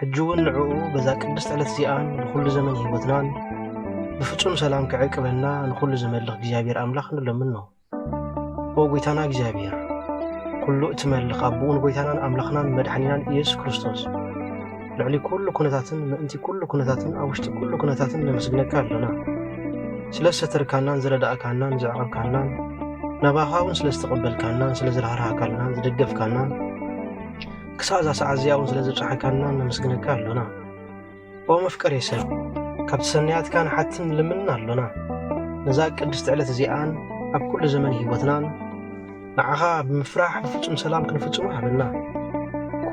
ሕጂ እውን ንዕኡ በዛ ቅድስት ዕለት እዚኣን ብኹሉ ዘመን ህይወትናን ብፍጹም ሰላም ክዕቅበና ንኹሉ ዝመልኽ እግዚኣብሔር ኣምላኽ ንለምን ነው። ኦ ጐይታና እግዚኣብሔር ኩሉ እትመልኽ ኣቦኡን ጐይታናን ኣምላኽናን መድሓኒናን ኢየሱስ ክርስቶስ ልዕሊ ኩሉ ኩነታትን ምእንቲ ኩሉ ኩነታትን ኣብ ውሽጢ ኩሉ ኩነታትን ነመስግነካ ኣለና ስለ ዝተርካናን ዝረዳእካናን ዘዕቐብካናን ናባኻ እውን ስለ ዝተቐበልካናን ስለ ዝረሃርሃካልናን ዝደገፍካናን ክሳዕ እዛ ሰዓት እዚኣ እውን ስለ ዘብጽሓካና ነመስግነካ ኣሎና ኦ መፍቀሬ ሰብ ካብቲ ሰናያትካ ንሓትን ንልምንን ኣሎና ነዛ ቅድስቲ ዕለት እዚኣን ኣብ ኩሉ ዘመን ህይወትናን ንዓኻ ብምፍራሕ ብፍጹም ሰላም ክንፍጽሙ ሃበና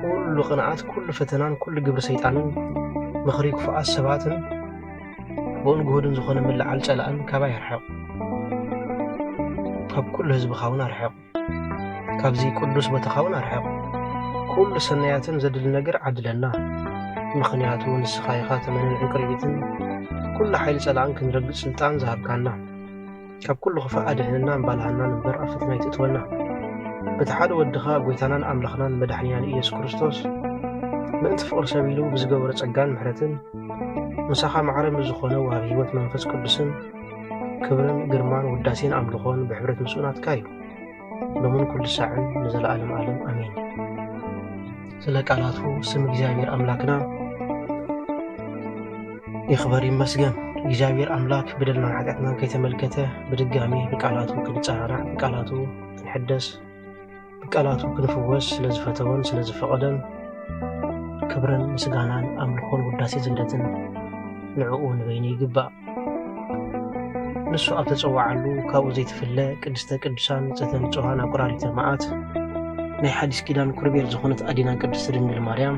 ኩሉ ቅንዓት ኩሉ ፈተናን ኩሉ ግብሪ ሰይጣንን ምኽሪ ክፉኣት ሰባትን ብኡን ግሁድን ዝኾነ ምልዓል ጸላእን ካባይ ኣርሕቕ ካብ ኩሉ ህዝብኻ እውን ኣርሕቕ ካብዚ ቅዱስ ቦታኻውን ኣርሕቕ ኩሉ ሰናያትን ዘድሊ ነገር ዓድለና ምኽንያቱ ንስኻ ኢኻ ተመንን ዕንቅርቢትን ኩሉ ሓይሊ ጸላእን ክንረግጽ ስልጣን ዝሃብካና ካብ ኩሉ ክፋእ ኣድሕንና እምባልሃናን እምበር ኣብ ፈተና ይትእትወና በቲ ሓደ ወድኻ ጐይታናን ኣምላኽናን መድሕኒናን ኢየሱስ ክርስቶስ ምእንቲ ፍቕሪ ሰብ ኢሉ ብዝገበሮ ጸጋን ምሕረትን ምሳኻ ማዕረ ምስ ዝኾነ ወሃብ ህይወት መንፈስ ቅዱስን ክብርን ግርማን ውዳሴን ኣምልኾን ብሕብረት ምስኡ ናትካ እዩ ሎምን ኩሉ ሳዕን ንዘለኣለም ኣለም ኣሜን ስለ ቃላቱ ስም እግዚኣብሔር ኣምላክና ይኽበር ይመስገን እግዚኣብሔር ኣምላክ በደልናን ሓጢኣትናን ከይተመልከተ ብድጋሚ ብቃላቱ ክንፀራራዕ ብቃላቱ ክንሕደስ ቃላቱ ክንፍወስ ስለ ዝፈተወን ስለ ዝፈቐደን ክብርን ምስጋናን ኣምልኾን ውዳሴ ዝንደትን ንዕኡ ንበይኑ ይግባእ። ንሱ ኣብ ተጸዋዓሉ ካብኡ ዘይትፍለ ቅድስተ ቅዱሳን ንጽሕተ ንጹሃን ኣቁራሪተ መዓት ናይ ሓዲስ ኪዳን ኩርቤል ዝኾነት ኣዲና ቅድስቲ ድንግል ማርያም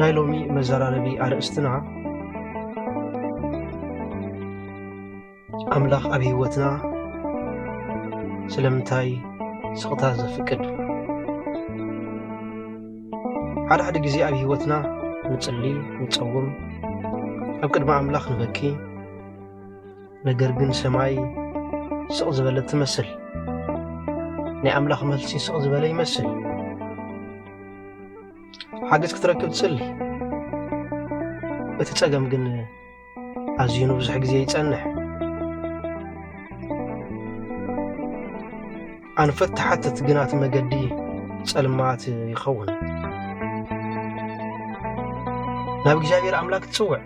ናይ ሎሚ መዘራረቢ ኣርእስትና ኣምላኽ ኣብ ህይወትና ስለምንታይ ስቕታ ዘፍቅድ ሓደ ሓደ ግዜ ኣብ ህይወትና ንጽሊ ንጸውም ኣብ ቅድሚ ኣምላኽ ንበኪ ነገር ግን ሰማይ ስቕ ዝበለት ትመስል ናይ ኣምላኽ መልሲ ስቕ ዝበለ ይመስል ሓገዝ ክትረክብ ትጽሊ እቲ ጸገም ግን ኣዝዩ ንብዙሕ ግዜ ይጸንሕ ኣንፈት ተሓትት ግና እቲ መገዲ ጸልማት ይኸውን ናብ እግዚኣብሔር ኣምላክ ትጽውዕ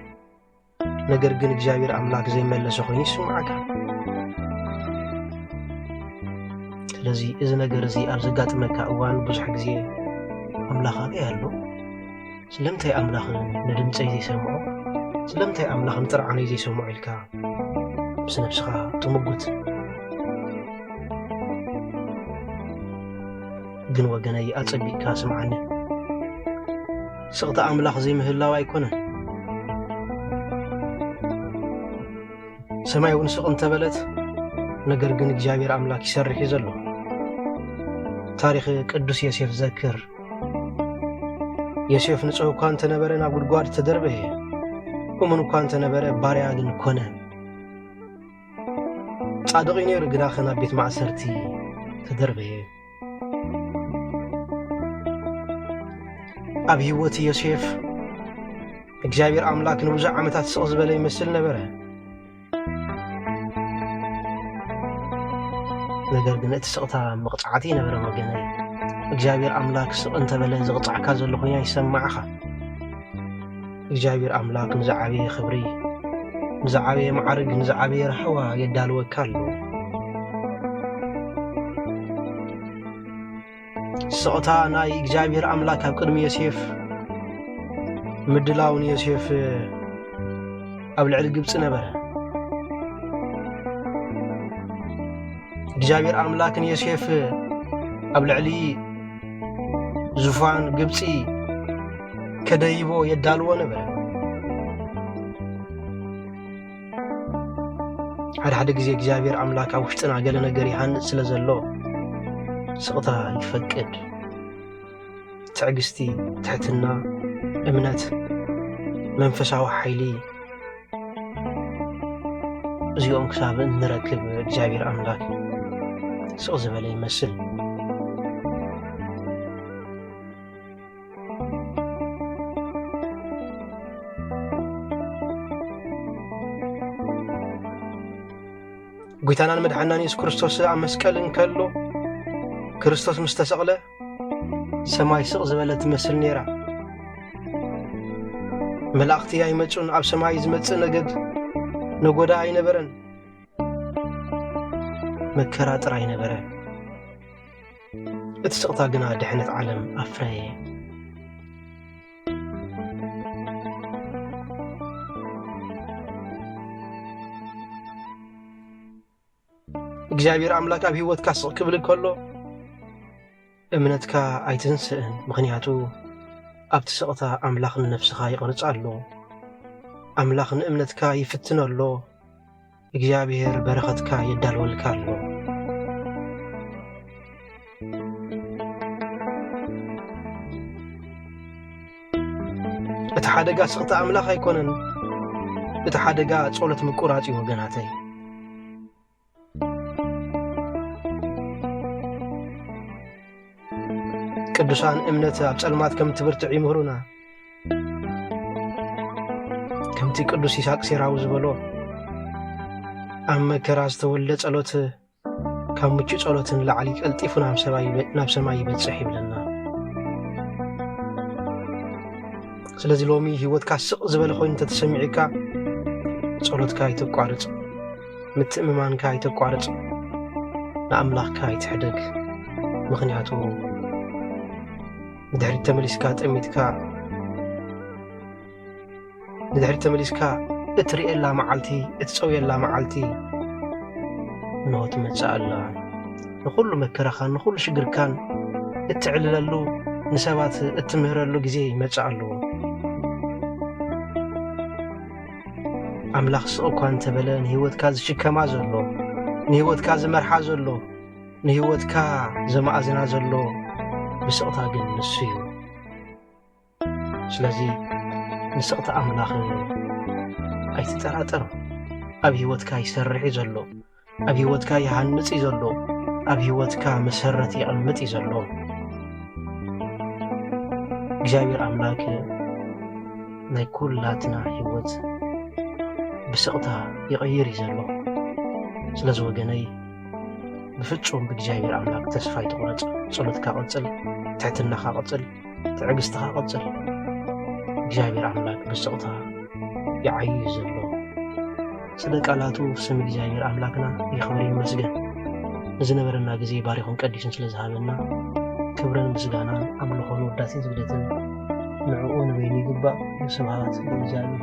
ነገር ግን እግዚኣብሔር ኣምላክ ዘይመለሰ ኮይኑ ይስምዓካ ስለዚ እዚ ነገር እዚ ኣብ ዘጋጥመካ እዋን ብዙሕ ግዜ ኣምላኽ ኣበይ ኣሎ ስለምንታይ ኣምላኽ ንድምፀይ ዘይሰምዖ ስለምንታይ ኣምላኽ ንጥርዓነይ ዘይሰምዖ ኢልካ ምስ ነብስኻ ትምጉት ግን ወገነይ ኣጸቢቅካ ስምዓኒ ስቕታ ኣምላኽ ዘይምህላው ኣይኮነን። ሰማይ እውን ስቕ እንተበለት ነገር ግን እግዚኣብሔር ኣምላክ ይሰርሕ እዩ ዘሎ። ታሪክ ቅዱስ ዮሴፍ ዘክር። ዮሴፍ ንጹህ እኳ እንተነበረ ናብ ጉድጓድ ተደርበየ። እሙን እኳ እንተነበረ ባርያ ግን ኮነ። ጻድቕ እዩ ነይሩ ግናኸ ናብ ቤት ማእሰርቲ ተደርበየ። ኣብ ህይወት ዮሴፍ እግዚኣብሔር ኣምላክ ንብዙሕ ዓመታት ስቕ ዝበለ ይመስል ነበረ። ነገር ግን እቲ ስቕታ መቕፃዕቲ ይነበረ ወገነይ። እግዚኣብሔር ኣምላክ ስቕ እንተበለ ዝቕፃዕካ ዘሎ ኮይኑ ይሰማዕኻ። እግዚኣብሔር ኣምላክ ንዝዓበየ ክብሪ ንዝዓበየ መዓርግ ንዝዓበየ ራሕዋ የዳልወካ ኣሎ ስቕታ ናይ እግዚኣብሔር ኣምላክ ኣብ ቅድሚ ዮሴፍ ምድላው ንዮሴፍ ኣብ ልዕሊ ግብፂ ነበረ እግዚኣብሔር ኣምላክ ንዮሴፍ ኣብ ልዕሊ ዙፋን ግብፂ ከደይቦ የዳልዎ ነበረ። ሓደ ሓደ ግዜ እግዚኣብሔር ኣምላክ ኣብ ውሽጥና ገለ ነገር ይሃንፅ ስለ ዘሎ ስቕታ ይፈቅድ። ትዕግስቲ፣ ትሕትና፣ እምነት፣ መንፈሳዊ ሓይሊ እዚኦም ክሳብ እንረክብ እግዚኣብሔር ኣምላክ ስቕ ዝበለ ይመስል። ጐይታናን መድሓናን የሱስ ክርስቶስ ኣብ መስቀል እንከሎ ክርስቶስ ምስ ተሰቕለ ሰማይ ስቕ ዝበለ ትመስል ነይራ መላእኽቲ ኣይመፁን ኣብ ሰማይ ዝመፅእ ነገድ ነጎዳ ኣይነበረን መከራ ጥራይ ነበረ እቲ ስቕታ ግና ድሕነት ዓለም ኣፍረየ። እግዚኣብሔር ኣምላክ ኣብ ህይወትካ ስቕ ክብል ከሎ እምነትካ ኣይትንስእን ምክንያቱ ኣብቲ ስቕታ ኣምላኽ ንነፍስኻ ይቕርጻ ኣሎ ኣምላኽ ንእምነትካ ይፍትኖ ኣሎ እግዚኣብሔር በረኸትካ የዳልወልካ ኣሎ። እቲ ሓደጋ ስቕታ ኣምላኽ ኣይኮነን እቲ ሓደጋ ጸሎት ምቁራጽ እዩ ወገናተይ ቅዱሳን እምነት ኣብ ጸልማት ከም ትብርትዕ ይምህሩና ከምቲ ቅዱስ ይስሐቅ ሴራዊ ዝበሎ ኣብ መከራ ዝተወልደ ጸሎት ካብ ምቹ ጸሎት ንላዕሊ ቀልጢፉ ናብ ሰማይ ይበጽሕ ይብለና ስለዚ ሎሚ ህይወትካ ስቕ ዝበለ ኮይኑ እንተተሰሚዑካ ጸሎትካ ኣይተቋርጽ ምትእምማንካ ኣይተቋርጽ ንኣምላኽካ ኣይትሕደግ ምኽንያቱ ንድሕሪት ተመሊስካ ጠሚትካ ንድሕሪት ተመሊስካ እትርእየላ መዓልቲ እትፀውየላ መዓልቲ እንሆ ትመፅእ ኣላ ንኹሉ መከራኻን ንኹሉ ሽግርካን እትዕልለሉ ንሰባት እትምህረሉ ግዜ ይመፅእ ኣለዎ ኣምላኽ ስቕ እኳ እንተበለ ንህይወትካ ዝሽከማ ዘሎ ንህይወትካ ዝመርሓ ዘሎ ንህይወትካ ዘማእዝና ዘሎ ብስቕታ ግን ንሱ እዩ ስለዚ ንስቕቲ ኣምላኽ ኣይትጠራጠር ኣብ ህይወትካ ይሰርሕ እዩ ዘሎ ኣብ ህይወትካ ይሃንጽ እዩ ዘሎ ኣብ ህይወትካ መሰረት ይቕምጥ እዩ ዘሎ እግዚኣብሔር ኣምላክ ናይ ኩላትና ህይወት ብስቕታ ይቐይር እዩ ዘሎ ስለዚ ወገነይ ብፍጹም ብእግዚኣብሔር ኣምላክ ተስፋ ኣይትቑረጽ ጸሎትካ ቐጽል ትሕትናኻ ቐጽል ትዕግስትኻ ቐጽል እግዚኣብሔር ኣምላክ ብስቕታ ይዓዩ እዩ ዘሎ ስለ ቃላቱ ስም እግዚኣብሔር ኣምላክና ይኽብር ይመስገን ንዝነበረና ግዜ ባሪኹን ቀዲሱን ስለ ዝሃበና ክብርን ምስጋናን ኣምልኾን ውዳሴን ስግደትን ንዕኡ ንበይኑ ይግባእ ስብሃት ንእግዚኣብሔር